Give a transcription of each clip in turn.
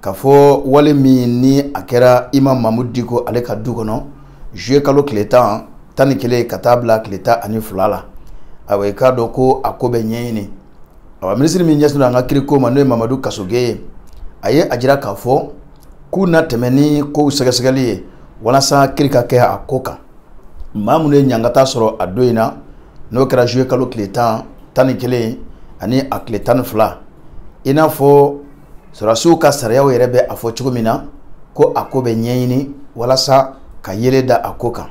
k'a fɔ wale min ni a kɛra imamu mamudu diko ale ka du kɔnɔ zuye kalo tile tan tan ni kelen ka taa bila tile tan ani fila la awa i k'a dɔn ko a ko bɛ ɲɛɲini awa minisiri min ɲɛsin an ka kiriko ma n'o ye mamadu kasoge ye a ye a jira k'a fɔ k'u na tɛmɛ ni kow sɛgɛsɛgɛli ye walasa kiri ka kɛ a ko kan maa minnu ye ɲangata sɔrɔ a don in na n'o kɛra zuye kalo tile tan tan ni kelen ani a tile tan ni fila i n'a fɔ sɔrɔdasiw ka sariyaw yɛrɛ bɛ a fɔ cogo min na ko a ko bɛ ɲɛɲini walasa ka yeelen da a ko kan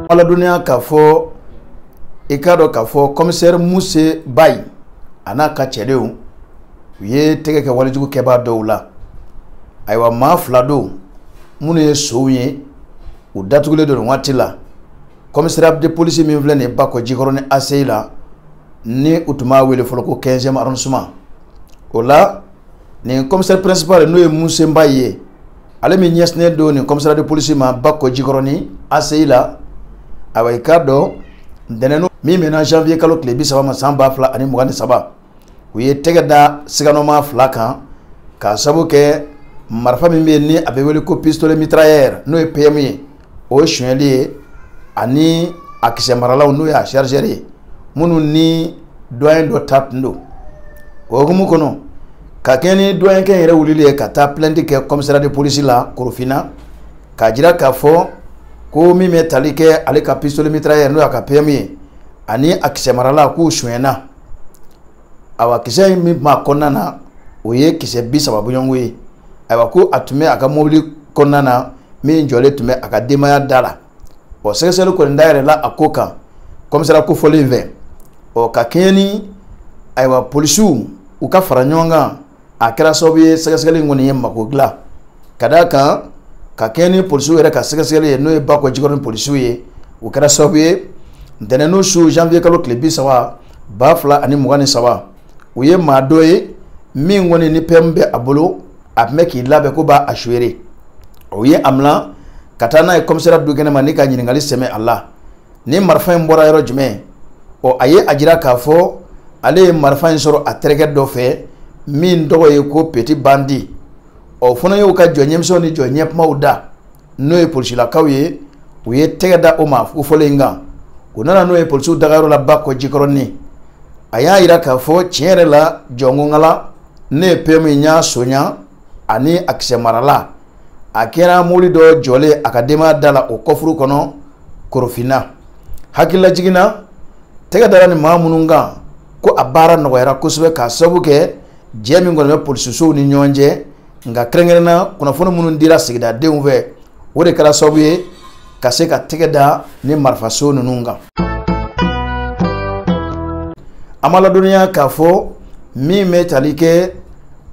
aw ladɔnniya k'a fɔ i k'a dɔn k'a fɔ kɔmisɛri muse bayi a n'a ka cɛdenw u ye tɛgɛ kɛ walejugu kɛbaa dɔw la ayiwa maa fila don minnu ye sonw ye u datugulen don nin waati la commissariat de police min filɛ nin ye Bakɔjikɔrɔni ACI la ni u tun b'a wele fɔlɔ ko 15e arrondissement o la nin commissaire principal n'o ye Muse Mbayi ye ale min ɲɛsinnen don nin commissariat de police ma Bakɔjikɔrɔni ACI la awa i k'a dɔn ntɛnɛn min bɛnna janvier kalo tile bi saba ma san ba fila ani mugan ni saba u ye tɛgɛ da siganɔma fila kan k'a sabu kɛ marifa min bɛ yen ni a bɛ wele ko pistolet mitrailleur n'o ye PM ye o sonyɛli ye ani a kisɛmaralanw n'o ye a chargeur ye minnu ni douanier dɔ ta tun don o hukumu kɔnɔ ka kɛɲɛ ni douanierkɛ yɛrɛ wulili ye ka taa plainte kɛ commissariat de police la Korofinna k'a jira k'a fɔ ko min bɛ tali kɛ ale ka pistolet mitrailleur n'o y'a ka PM ye ani a kisɛmaralan k'u sonyɛna awa kisɛ in min b'a kɔnɔna na o ye kisɛ bi saba bɔɲɔgɔn ye ayiwa ko a tun bɛ a ka mobili kɔnɔna na min jɔlen tun bɛ a ka denbaya da la ɔ sɛgɛsɛgɛli kɔni dayɛlɛla a ko kan kɔmisara kofɔlen fɛ ɔ ka kɛɲɛ ni ayiwa polisiw u ka faraɲɔgɔnkan a kɛra sababu ye sɛgɛsɛgɛli kɔni ye mako dilan ka d'a kan ka kɛɲɛ ni polisiw yɛrɛ ka sɛgɛsɛgɛli ye n'o ye bakɔjikɔrɔni polisiw ye o kɛra sababu ye ntɛnɛndon su janvier kalo tile bi saba ba fila ani mugan ni saba u ye maa dɔ ye min kɔni ni pɛmu bɛ a bolo a tun bɛ k'i labɛn ko b'a a feere u ye a mina ka taa n'a ye kɔmisara dukɛnɛ ma ni ka ɲininkali sɛmɛ a la nin marifa in bɔra yɔrɔ jumɛn ɔ a ye a jira k'a fɔ ale ye marifa in sɔrɔ a terikɛ dɔ fɛ min tɔgɔ ye ko peti bandi u fana y'u ka jɔ ɲɛmisɛnw ni jɔ ɲɛkunbaw da n'o ye polisilakaw ye u ye tɛgɛ da o maa kofɔlen in kan u nana n'o ye polisiw dagayɔrɔ la bakɔjikɔrɔni a y'a jira k'a fɔ tiɲɛ yɛrɛ la jɔn ko ngala ne ye pɛmu in y'a sonya ani a kisɛmaralan a kɛra mobili dɔ jɔlen a ka denbaya da la o kɔfuru kɔnɔ korofinna hakililajigin na tɛgɛ dara nin maa minnu kan ko a baara nɔgɔyara kosɛbɛ k'a sababu kɛ jɛ min kɔni bɛ polisisow ni ɲɔgɔn cɛ nka kɛrɛnkɛrɛnna kunnafoni minnu dira sigidadenw fɛ o de kɛra sababu ye ka se ka tɛgɛ da ni marifa son ninnu kan an b'a ladɔnniya k'a fɔ min bɛ tali kɛ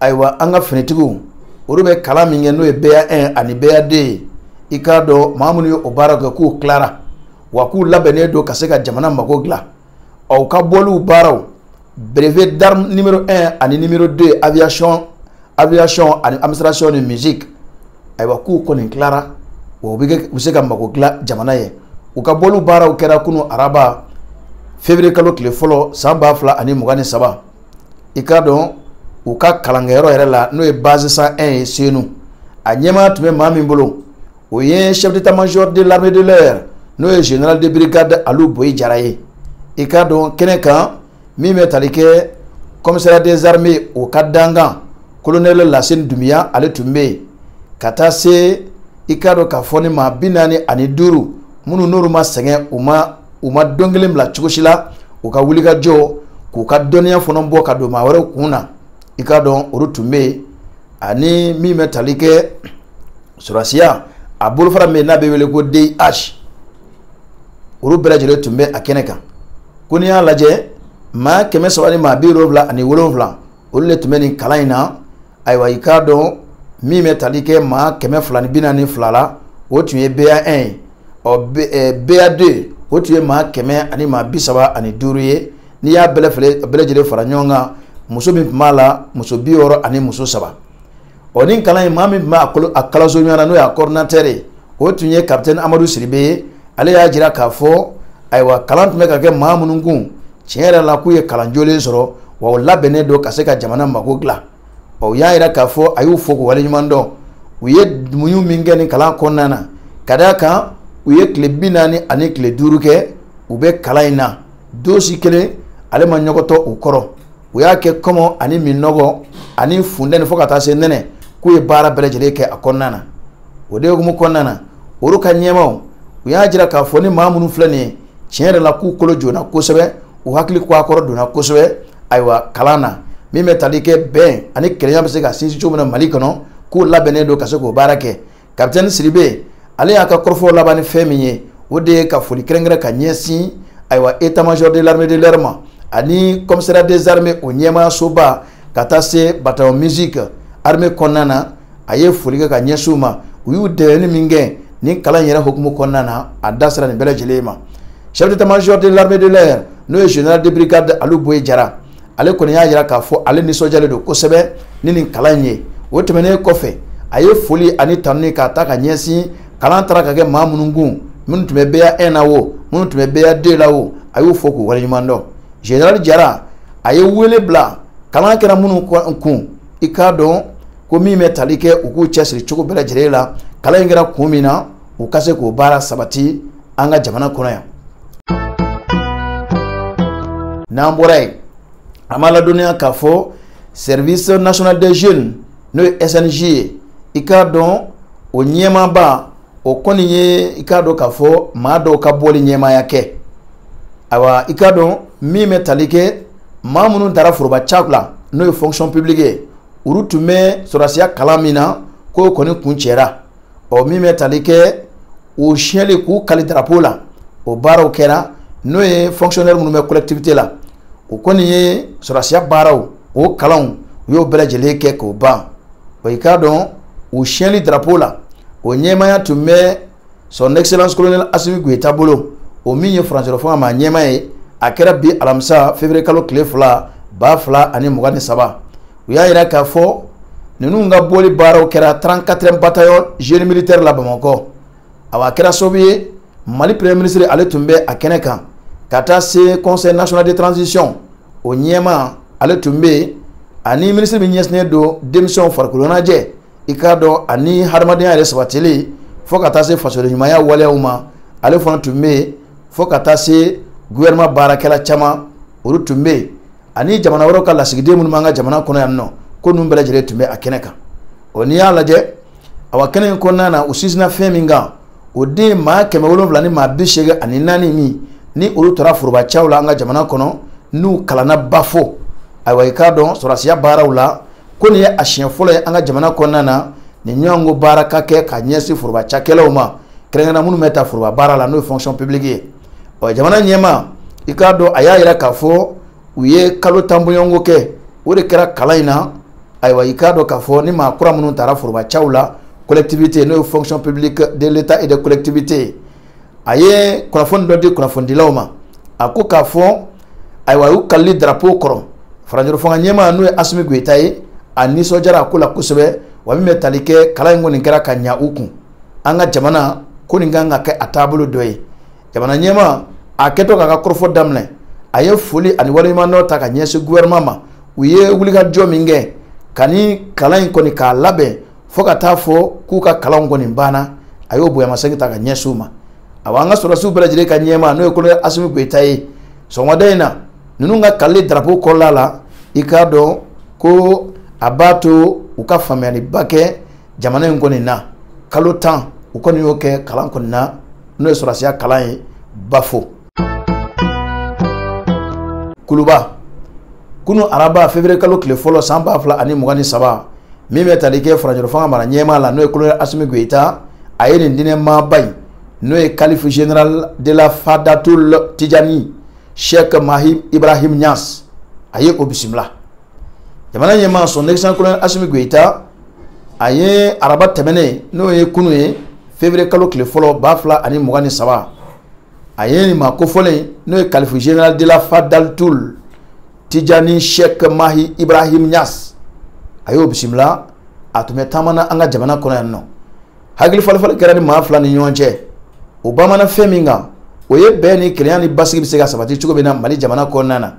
ayiwa an ka finitigiw olu bɛ kalan min kɛ n'o ye BA1 ani BA2 ye i k'a dɔn maa minnu ye o baara kɛ k'u tilara wa k'u labɛnnen don ka se ka jamana mago dilan ɔ u ka bɔliw baaraw brevet d'arme numéro 1 ani numéro 2 aviation ani administration ni musique ayiwa k'u kɔni tilara wa u bɛ kɛ u bɛ se ka mago dilan jamana ye u ka bɔliw baaraw kɛra kunu araba février kalo tile fɔlɔ san ba fila ani mugan ni saba i k'a dɔn u ka kalankɛyɔrɔ yɛrɛ la n'o ye base 101 ye senu a ɲɛmaa tun bɛ maa min bolo o ye chef d'état major de l'armée de l'air n'o ye général de brigade alu boyi jara ye i k'a dɔn kɛnɛ kan min bɛ tali kɛ commissariat des armées o ka dankan colonel laseni dunbiya ale tun bɛ yen ka taa se i k'a dɔn k'a fɔ ni maa bi naani ani duuru minnu n'olu ma sɛgɛn u ma don kelen bila cogo si la u ka wulikajɔ k'u ka dɔnniya fana bɔ ka don maa wɛrɛw kun na i k'a dɔn olu tun bɛ yen ani min bɛ tali kɛ sɔrɔdasiya a bolofara min n'a bɛ wele ko DIH olu bɛɛ lajɛlen tun bɛ a kɛnɛ kan ko n'i y'a lajɛ maa kɛmɛ saba ni maa bi wolonfila ani wolonfila olu de tun bɛ nin kalan in na ayiwa i k'a dɔn min bɛ tali kɛ maa kɛmɛ fila ni bi naani fila la o tun ye BA1 ye ɔ BA2 o tun ye maa kɛmɛ ani maa bi saba ani duuru ye n'i y'a bɛɛ lajɛlen fara ɲɔgɔn kan muso min tun b'a la muso bi wɔɔrɔ ani muso saba ɔ ni kalan in maa min tun b'a kolo a kalanso ɲɔgɔn na n'o y'a coordinateur ye o tun ye capitaine amadu siribe ye ale y'a jira k'a fɔ ayiwa kalan tun bɛ ka kɛ maa minnu kun tiɲɛ yɛrɛ la k'u ye kalan jolen sɔrɔ wa u labɛnnen don ka se ka jamana mago dilan ɔ u y'a jira k'a fɔ a y'u fo k'u waleɲuman dɔn u ye muɲu min kɛ nin kalan kɔnɔna na ka d'a kan u ye tile bi naani ani tile duuru kɛ u bɛ kalan in na don si kelen ale ma ɲɔgɔtɔ u kɔrɔ u y'a kɛ kɔngɔ ani minnɔgɔ ani funteni fo ka taa se nɛnɛ k'u ye baara bɛɛ lajɛlen kɛ a kɔnɔna na o de hukumu kɔnɔna na olu ka ɲɛmaw u y'a jira k'a fɔ ni maa minnu filɛ nin ye tiɲɛ yɛrɛ la k'u kolo joona kosɛbɛ u hakili ko a kɔrɔ donna kosɛbɛ ayiwa kalan na min bɛ tali kɛ bɛn ani kelenya bɛ se ka sinsin cogo min na mali kɔnɔ k'u labɛnnen don ka se k'o baara kɛ kapitɛni sidibe ale y'a ka kɔrɔfɔw laban ni fɛn min ye o de ye ka foli kɛrɛnkɛrɛn ka ɲɛsin ayiwa état major de l'armée de l'air ma ani commissariat des armées o ɲɛmaayasoba ka taa se bataillon musique armée kɔnɔna na a ye foli kɛ ka ɲɛsin u ma u y'u dɛmɛni min kɛ nin kalan in yɛrɛ hukumu kɔnɔna na a da sera nin bɛɛ lajɛlen ma chef d'état major de l'armée de l'air n'o ye général de brigade alu boyi jara ale kɔni y'a jira k'a fɔ ale nisɔndiyalen don kosɛbɛ ni nin kalan in ye o tɛmɛnen kɔfɛ a ye foli ani tanuni k'a ta ka ɲɛsin kalan taara ka kɛ maa minnu kun minnu tun bɛ ba 1 na o minnu tun bɛ ba 2 la o a y'u fo k'u waleɲuman dɔn général jara a ye wele bila kalan kɛra minnu kun i k'a dɔn ko min bɛ tali kɛ u k'u cɛsiri cogo bɛɛ lajɛlen la kalan in kɛra kun min na u ka se k'o baara sabati an ka jamana kɔnɔ yan n'an bɔra yen an b'a ladɔnniya k'a fɔ service national des jeunes n'o ye snj ye i k'a dɔn o ɲɛmaaba o kɔni ye i k'a dɔn k'a fɔ maa dɔw ka bɔli ɲɛmaaya kɛ ayiwa i k'a dɔn min bɛ tali kɛ maa minnu tara foroba caku la n'o ye fonction publique ye olu tun bɛ sɔrɔdasiya kalan min na k'o kɔni kuncɛra ɔ min bɛ tali kɛ u siyɛnli k'u kali darapo la o baaraw kɛra n'o ye fonctionnaire minnu bɛ collectivité la o kɔni ye sɔrɔdasiya baaraw o kalanw u y'o bɛɛ lajɛlen kɛ k'o ban ɔ i k'a dɔn u siyɛnli darapo la o ɲɛmaaya tun bɛ son excellence colonel asimi goyita bolo o min ye furancɛrɔ fanga maa ɲɛmaa ye a kɛra bi alamisa février kalo tile fila ba fila ani mugan ni saba u y'a jira k'a fɔ ninnu ka bɔli baaraw kɛra 34e bataillon génie militaire la bamakɔ awa a kɛra sababu ye mali premier ministre ale tun bɛ a kɛnɛ kan ka taa se conseil national de transition o ɲɛmaa ale tun bɛ yen ani minisiri min ɲɛsinnen don denmisɛnw farikoloɲɛnajɛ i k'a dɔn ani hadamadenya yɛrɛ sabatili fo ka taa se fasodenɲumanya waleyaw ma ale fana tun bɛ yen fo ka taa se gouvernement baarakɛla caman olu tun bɛ yen ani jamana wɛrɛw ka lasigiden minnu b'an ka jamana kɔnɔ yan nɔ ko ninnu bɛɛ lajɛlen tun bɛ a kɛnɛ kan ɔ n'i y'a lajɛ awa kɛnɛ in kɔnɔna na u sinsinna fɛn min kan o de maa kɛmɛ wolonwula ni maa bi seegin ani naani min ni olu tara forobacaw la an ka jamana kɔnɔ n'u kalanna bafo ayiwa i k'a dɔn sɔrɔdasiya baaraw la ko nin ye a siɲɛ fɔlɔ ye an ka jamana kɔnɔna na nin ɲɔgɔnko baara ka kɛ ka ɲɛsin foroba cakɛlaw ma kɛrɛnkɛrɛnna minnu bɛ ta foroba baara la n'o ye fonction publique ye ɔ jamana ɲɛmaa i k'a dɔn a y'a yira k'a fɔ u ye kalo tan bɔɲɔgɔnko kɛ o de kɛra kalan in na ayiwa i k'a dɔn k'a fɔ ni maa kura minnu taara forobacaw la collectivité n'o ye fonction publique de l'état et des collectivités a ye kunnafoni dɔ di kunnafonidilaw ma a ko k'a fɔ ayiwa a y'u kalili drapeau kɔrɔ furancɛrɔ fanga ɲɛmaa n'o ye asimi goyita ye a nisɔndiyara a ko la kosɛbɛ wa min bɛ tali kɛ kalan in kɔni kɛra ka ɲa u kun an ka jamana ko nin kan ka kɛ a taabolo dɔ ye jamana ɲɛmaa a kɛtɔ k'a ka kɔrɔfɔ daminɛ a ye foli ani waleɲumandɔn ta ka ɲɛsin gouvernement ma u ye wulikajɔ min kɛ ka nin kalan in kɔni k'a labɛn fo ka taa fɔ k'u ka kalanw kɔni banna a y'o bonyamasegin ta ka ɲɛsin u ma awa an ka sɔrɔdasiw bɛɛ lajɛlen ka ɲɛmaa n'o ye kolonɛli asimi goyita ye sɔgɔmada in na ninnu ka kalili darapo kɔrɔla la i k'a dɔn ko a b'a to u ka faamuyaliba kɛ jamana in kɔni na kalo tan u kɔni y'o kɛ kalan kɔni na n'o ye sɔrɔdasiya kalan ye bafo kuluba kunu araba février kalo tile fɔlɔ san ba fila ani mugan ni saba min bɛ tali kɛ furancɛla fanga mara ɲɛmaa la n'o ye kolonɛli asimi goyita a ye nin diinɛ maaba in n'o ye kalifu général de la fadatul tijani sheikh mahi ibrahim ɲas a ye o bisimila jamana ɲɛmaa son excellence kolonɛli asimi goyita a ye araba tɛmɛnen n'o ye kunu ye février kalo tile fɔlɔ ba fila ani mugan ni saba a ye nin maa kofɔlen n'o ye kalifu général de la fadatul tijani sheikh mahi ibrahim ɲas a y'o bisimila a tun bɛ taama na an ka jamana kɔnɔ yan nɔ hakili falenfalen kɛra nin maa fila ni ɲɔgɔn cɛ o banbannen fɛn min kan o ye bɛn ni kelenya ni basigi bɛ se ka sabati cogo min na mali jamana kɔnɔna na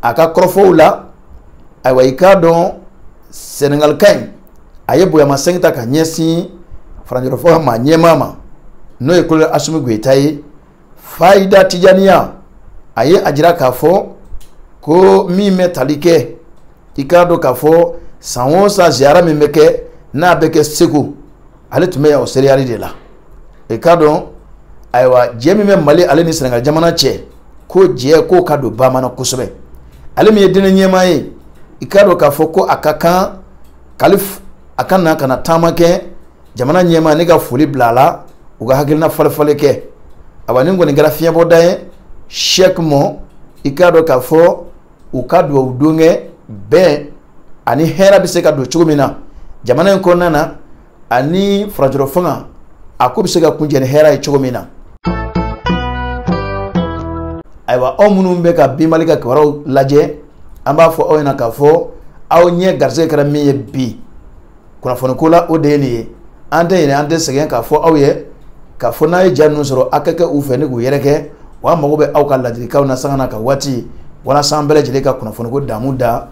a ka kɔrɔfɔw la ayiwa i k'a dɔn sɛnɛgalika in a ye bonyamasegin ta ka ɲɛsin furancɛrɔ fanga mara ɲɛmaa ma n'o ye kolonɛli asimi goyita ye fayida tijaniya a ye a jira k'a fɔ ko min bɛ tali kɛ i k'a dɔn k'a fɔ san o san ziyara min bɛ kɛ n'a bɛ kɛ segu ale tun bɛ yan o seereyali de la i k'a dɔn ayiwa jɛ min bɛ mali ale ni sɛnɛgali jamana cɛ ko jɛ k'o ka don ba na kosɛbɛ ale min ye diinɛ ɲɛmaa ye i k'a dɔn k'a fɔ ko a ka kan kali a ka na ka na taama kɛ jamana ɲɛmaa ni ka foli bila a la u ka hakilina falenfalen kɛ awa nin kɔni kɛra fiɲɛbɔda ye sheikh ma i k'a dɔn k'a fɔ u ka dubabu don kɛ bɛn ani hɛrɛ bɛ se ka don cogo min na jamana in kɔnɔna na ani furancɛla fanga a ko bɛ se ka kuncɛ ni hɛrɛ ye cogo min na ayiwa aw minnu bɛ ka bi mali ka kibaruyaw lajɛ an b'a fɔ aw ɲɛna k'a fɔ aw ɲɛ garisɛgɛ kɛra min ye bi kunnafoniko la o de ye nin ye an tɛ ɲinɛ an tɛ sɛgɛn k'a fɔ aw ye k'a fɔ n'a ye ja ninnu sɔrɔ a ka kɛ u fɛ ni k'u yɛrɛkɛ wa an mago bɛ aw ka ladilikanw na sanga n'a ka waati walasa an bɛɛ lajɛlen ka kunnafoniko damu da